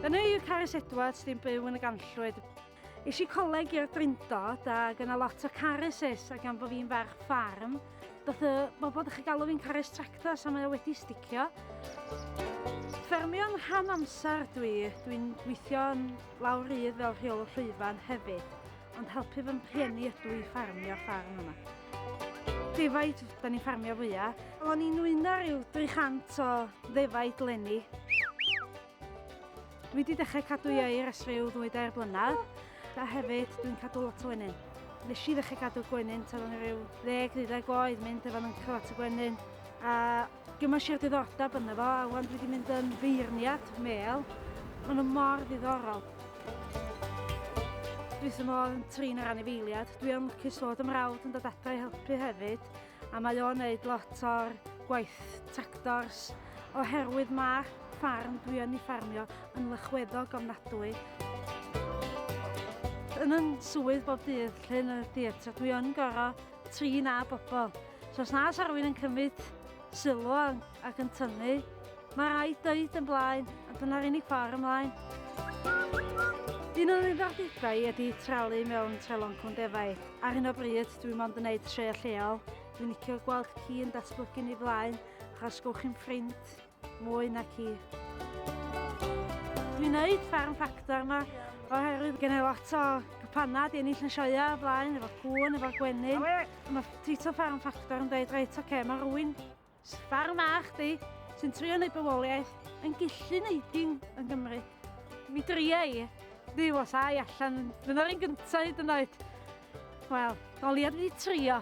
Yn y UK ers Edwards ddim byw yn y ganllwyd. Is i coleg i'r drindod ac yna lot o careses ac am bod fi'n ferch ffarm, doth y bobl ddech chi galw fi'n cares tractor so mae o wedi sticio. Ffermio'n rhan amser dwi, dwi'n gweithio yn lawr rydd fel rheol llwyfan hefyd. Ond helpu fy rhieni ydw i ffarmio ffarm yma. Defaid, da ni'n ffarmio fwyaf. O'n i'n wyno rhyw 300 o ddefaid lenni. Dwi wedi dechrau cadw i air ers rhyw ddwy dair blynedd, a hefyd dwi'n cadw lot o wenyn. Nes i ddechrau cadw gwenyn tan o'n rhyw 10-12 oed, mynd efo nhw'n cyfat y gwenyn, a Dwi'n mynd siarad diddordeb yna fo, a wan dwi wedi mynd yn feirniad mel. Mae nhw mor ddiddorol. Dwi sy'n modd yn trin ar anifeiliad. Dwi am lwcus fod ymrawd yn dod adra i helpu hefyd, a mae o'n neud lot o'r gwaith tractors, oherwydd mae ffarm dwi yn ei ffarmio yn lychweddog ofnadwy. Yn yn swydd bob dydd lle yn y theatr, dwi yn gorau trin â bobl. So os na sa rhywun yn cymryd sylw ac yn tynnu, mae rhaid dweud yn blaen, a dyna'r unig ffordd ymlaen. Un o'n ddiddordebau ydy tralu mewn treloncwn defaid. Ar hyn o bryd, dwi mond yn neud tre lleol. Dwi'n licio gweld ci yn datblygu ni flaen, achos gwch chi'n ffrind. Mwy na ci. Dwi'n neud ffarm ffactor yma oherwydd gen i lot o gwpannau di ennill yn sioia o blaen efo'r cŵn, efo'r gwenyn. Mae Tito Ffarm Ffactor yn dweud reit oce, okay, mae rwy'n ffarm a chdi sy'n trio neud bywoliaeth yn gillu neud un yn Gymru. Mi dria i, ddi os ai allan, dyna'r un gyntaf hyd yn oed. Wel, doliad fi trio.